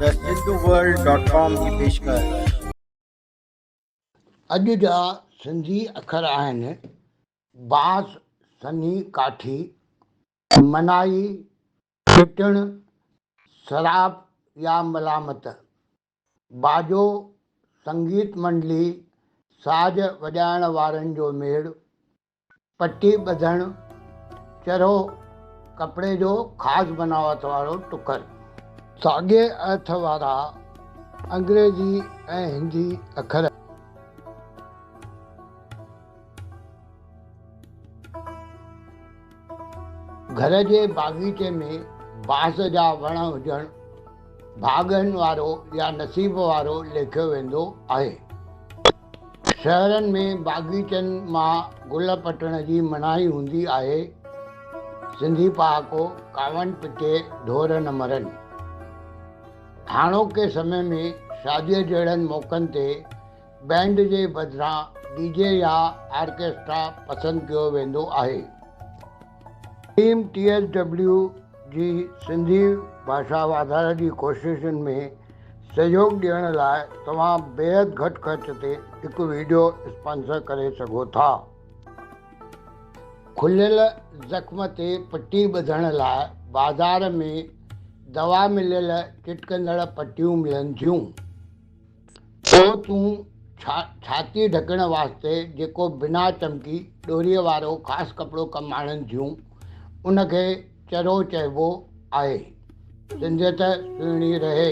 The Hinduworld dot com جي پيشڪش. اڄ جا سنڌي اکر آهن، باس، سنهي، ڪاٺي، منائي، ڦٽڻ، سراپ يا ملامت، باجو، سنگيت منڊلي، ساز وڄائڻ وارن جو ميڙ، پٽي ٻڌڻ، چرهو، ڪپڙي جو خاص بناوت وارو ٽڪر. ساڳئي ارٿ وارا انگريزي ۽ هندي اکر. گهر جي باغيچي ۾ بانس جا وڻ هجڻ ڀاڳن وارو يا نصيب وارو ليکيو ويندو آهي. شهرن ۾ باغيچن مان گل پٽڻ جي منائي هوندي آهي، سنڌي پهاڪو، ڪاوڙ پٽي ڍور نه مرن. هاڻوڪي سمي ۾ شاديء جهڙن موقعن تي بينڊ جي بدران ڊي جي يا آرڪيسٽرا پسند ڪيو ويندو آهي. ٽيم ٽي ايس ڊبليو جي سنڌي ڀاشا واڌاري جي ڪوششن ۾ سهيوڳ ڏيڻ لاء توهان بيحد گهٽ خرچ تي هڪ وڊيو اسپانسر ڪري سگهو ٿا. کليل زخم تي پٽي ٻڌڻ لاء بازار ۾ دوا مليل چٽڪندڙ پٽيون ملن ٿيون. پوء تون ڇا ڇاتي ڍڪڻ واسطي جيڪو بنا چمڪي ڏوريء وارو خاص ڪپڙو ڪم آڻن ٿيون، ان کي چرو چئبو آهي. سنڌيت سهڻي رهي.